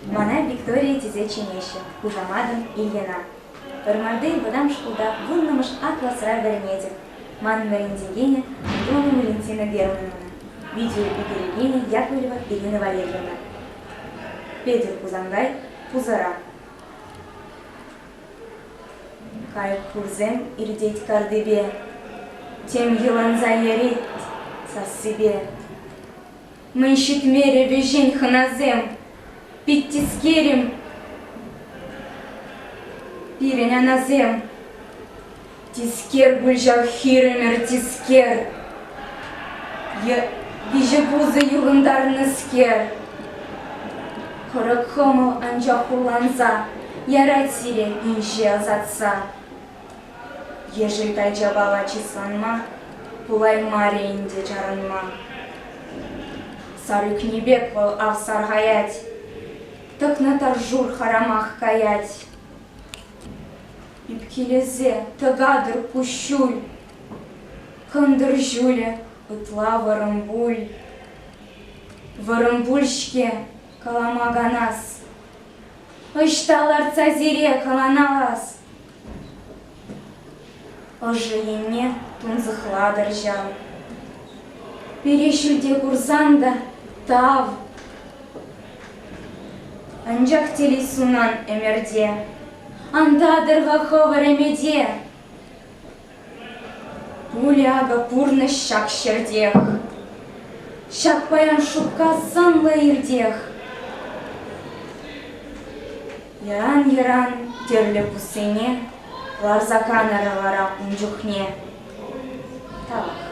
Мана Виктория тесе чӗнеҫҫӗ, хушаматӑм Ильина. Вӑрмарти вӑтам шкулта вуннӑмӗш А класра вӗренетӗп. Манӑн вӗрентекенӗ Андреева Валентина Германовна, видеоӳкерекенӗ Яковлева Ирина Валерьевна. Петӗр Хусанкай пусӑра. Кайӑк хурсем иртет картипе, Тем йӑланса ярит сассипе. Мӗн ҫитмерӗ вӗҫен хӑнасем? Пит тискерӗм пирӗн анасем. Тискер пуль ҫав хирӗмӗр тискер. Виҫӗ пусӑ юхӑнтарнӑскер. Хӑрӑк хӑмӑл анчах хурланса. Ярать сире инҫе ӑсатса. Ешӗлкай чапала чысланма пулаймарӗ ӗнтӗ чарӑнма. Сар ӳкнӗ пек вӑл авсархаять, тӑкнӑ тӑршур харамах каять. Ӳпкелесе тӑкатӑр куҫҫуль, кӑнтӑр ҫулӗ ытла вӑрӑмпуль. Вӑрӑмпуль-ҫке калама канас, ӑҫта лартса сире каланалас? Ӑшӑ енне тунсӑхлатӑрччӗ. Пире ҫӳлте курсан та тав. Анчах телей сунан ӗмӗрте. Антатӑр-ха хӑвӑр ӗмӗте. Пулӗ акӑ пурнӑҫ ҫак ҫӗртех. Ҫак паян шупка сӑнлӑ иртех. Яран-яран тӗрлӗ пуссене ларса канӑрӗ вара ун чухне. Тавах.